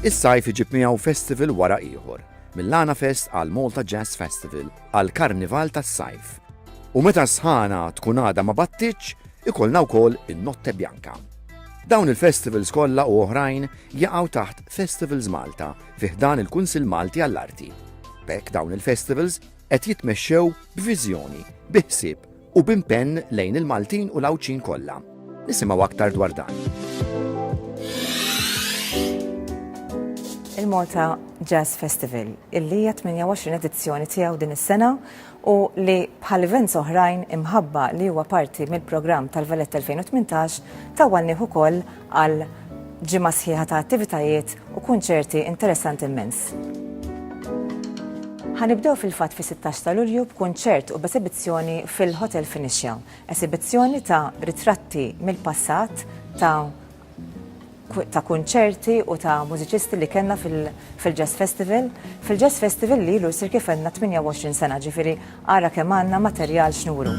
Is-sajf iġib miegħu festival wara ieħor, mill-Lana Fest għal Malta Jazz Festival għal Karnival tas-Sajf. U meta sħana tkun għada ma battiċ, ikollna wkoll in-Notte Bianca. Dawn il-festivals kollha u oħrajn jaqgħu taħt Festivals Malta fi ħdan il-Kunsil Malti għall-Arti. Bek dawn il-festivals qed jitmexxew b'viżjoni, bi ħsieb u b'impenn lejn il-Maltin u l-Għawdxin kollha. Nisimgħu aktar dwar dan. il-Malta Jazz Festival, illi hija 28 edizzjoni tiegħu din is-sena u li bħal events oħrajn imħabba li huwa parti mill-programm tal-Velet 2018 tawwalnieh ukoll għal ġimgħa sħiħa ta' attivitajiet u kunċerti interessanti mmens. Ħa nibdew fil-fatt fis-sittax ta' Lulju b'kunċert u b'esibizzjoni fil-Hotel Phoenicia. Esibizzjoni ta' ritratti mill-passat ta' ta' kunċerti u ta' mużiċisti li kellna fil-Jazz Festival. Fil-Jazz Festival li ilu jsir kif għandna 28 sena ġifieri Ara kemm għandna materjal x'nuru!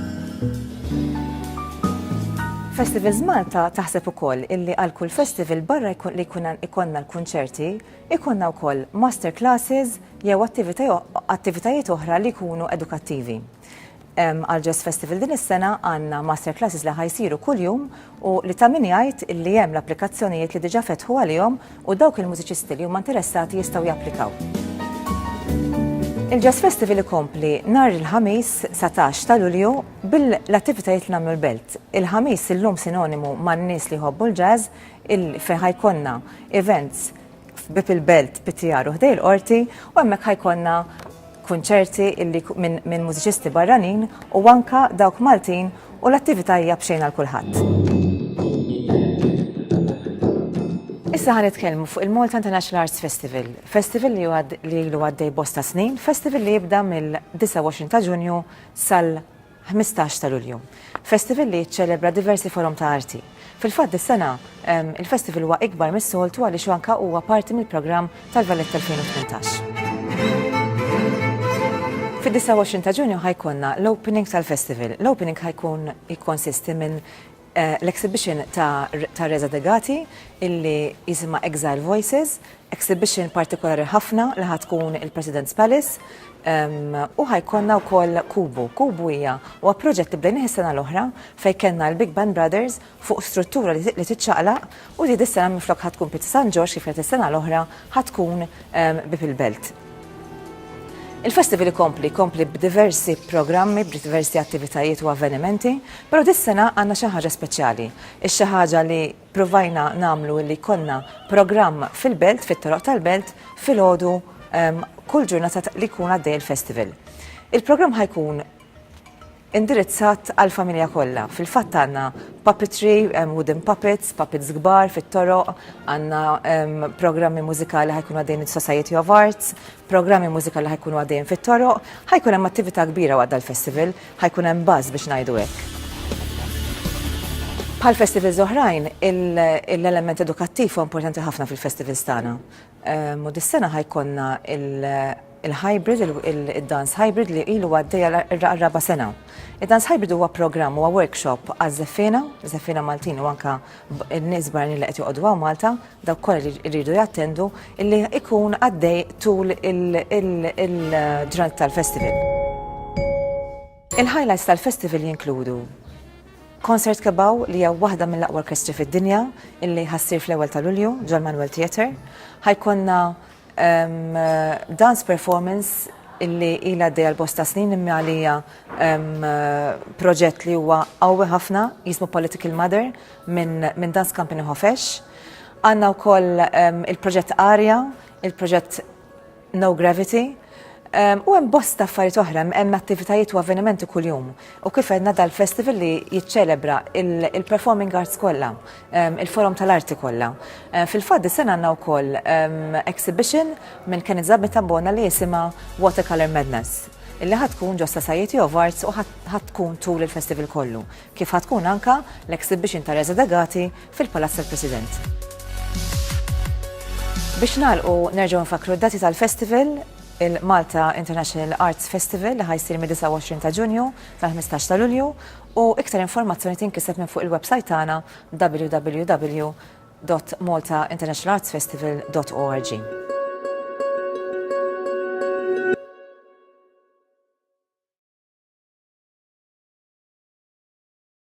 Festivals Malta taħseb ukoll illi għal kull festival barra li jkun ikollna l-kunċerti, ikollna wkoll master classes jew attivitajiet oħra li jkunu edukattivi. Għal Jazz Festival din is-sena għandna master classes li ħa jsiru kuljum u li ta' min jgħid li hemm l-applikazzjonijiet li diġà fetħu għalihom u dawk il-mużiċisti li huma interessati jistgħu japplikaw. Il-Jazz Festival ikompli nhar il-Ħamis 19 ta' Lulju bil-attivitajiet li nagħmlu l-Belt. Il-Ħamis illum sinonimu man-nies li jħobbu l-jazz il fejn ħajkonna events f'Bieb il-Belt, Pittjar u ħdej il-Qorti u hemmhekk ħa jkollna kunċerti illi minn min mużiċisti barranin u anka dawk Maltin u l-attività hija b'xejn għal kulħadd. Issa ħan nitkellmu fuq il-Malta International Arts Festival. Festival li li ilu għaddej bosta snin, festival li jibda mill-29 ta' Ġunju sal 15 ta' Lulju. Festival li jiċċelebra diversi forom ta' arti. Fil-fatt dis-sena, il-festival huwa ikbar mis-soltu għaliex hu anke huwa parti mill-programm tal-Valletta 2018. Fid-29 ta' Ġunju ħa jkollna l-opening tal-festival. L-opening ħa jkun jikkonsisti minn l-exhibition ta' ta' Reza Degati illi jisimha Exile Voices, exhibition partikolari ħafna li ħa tkun il-President's Palace ehm, u ħajkonna wkoll Kubu. Kubu hija huwa proġett li bdejnieh is-sena l-oħra fejn kellna l-Big Band Brothers fuq struttura li li tiċċaqlaq U di dis-sena minflok ħa tkun Pieta San Ġorġ kif kienet is-sena l-oħra ħa tkun Bieb il-Belt. Il-festival ikompli, jkompli b'diversi programmi, b'diversi attivitajiet u avvenimenti, però dis-sena għandna xi ħaġa speċjali. Ix-xi ħaġa li ppruvajna nagħmlu li jkollna programm fil-Belt, fit-toroq tal-Belt, filgħodu kull ġurnata li jkun għaddej il-festival. Il-programm ħa jkun indirizzat għall-familja kollha. Fil-fatt għandna puppetry, um, wooden puppets, puppets kbar fit-toroq, għandna um, programmi mużikali ħajkunu għaddejn il-Society of Arts, programmi mużikali ħajkunu għaddejn fit-toroq, ħajkun hemm attività kbira waqt dal-festival, ħajkun hemm baż biex ngħidu hekk. Bħal festivals oħrajn, l-element edukattiv huwa importanti ħafna fil-festivals tagħna. U dis-sena ħa jkollna il-hybrid, id-dance hybrid li ilu għaddej għar-raba' sena. Id-dance hybrid huwa programm, huwa workshop għaż-żeffiena, żeffiena Maltin u anke n-nies barranin li qed joqogħdu hawn Malta, dawk kollha li jridu jattendu, li jkun għaddej tul il-ġranet tal-festival. Il-highlights tal-festival jinkludu Concert Kebbaw li hija waħda mill-aqwa orkestri fid-dinja illi ħassir fl-ewwel ta' Lulju ġol Manuel Theatre. Ħajkonna ehm, dance performance illi ila għaddejja l-bosta snin imma għalija proġett li huwa qawwi ħafna jismu Political Mother minn min Dance Company Hofesh. Għanna wkoll il-proġett Arja, il-proġett No Gravity, ehm, u hemm bosta affarijiet oħra, hemm attivitajiet u avvenimenti kuljum. U kif għedna dal-festival li jiċċelebra il-performing arts kollha, ehm, il-forum tal-arti kollha. Ehm, Fil-fatt is sena għandna wkoll exhibition minn Kenneth Zabit Bona li jisimha Watercolor Madness illi ħatkun ġo Society of Arts u ħatkun tul il-festival kollu. Kif ħatkun anka l-exhibition ta' Reza Dagati fil-Palazz tal-President. Biex nagħlqu nerġgħu nfakkru d-dati tal-festival, il-Malta International Arts Festival li ħa jsir mid-29 ta' Ġunju sal-15 ta' Lulju u iktar informazzjoni tinkiseb minn fuq il-websajt tagħna www.maltainternationalartsfestival.org.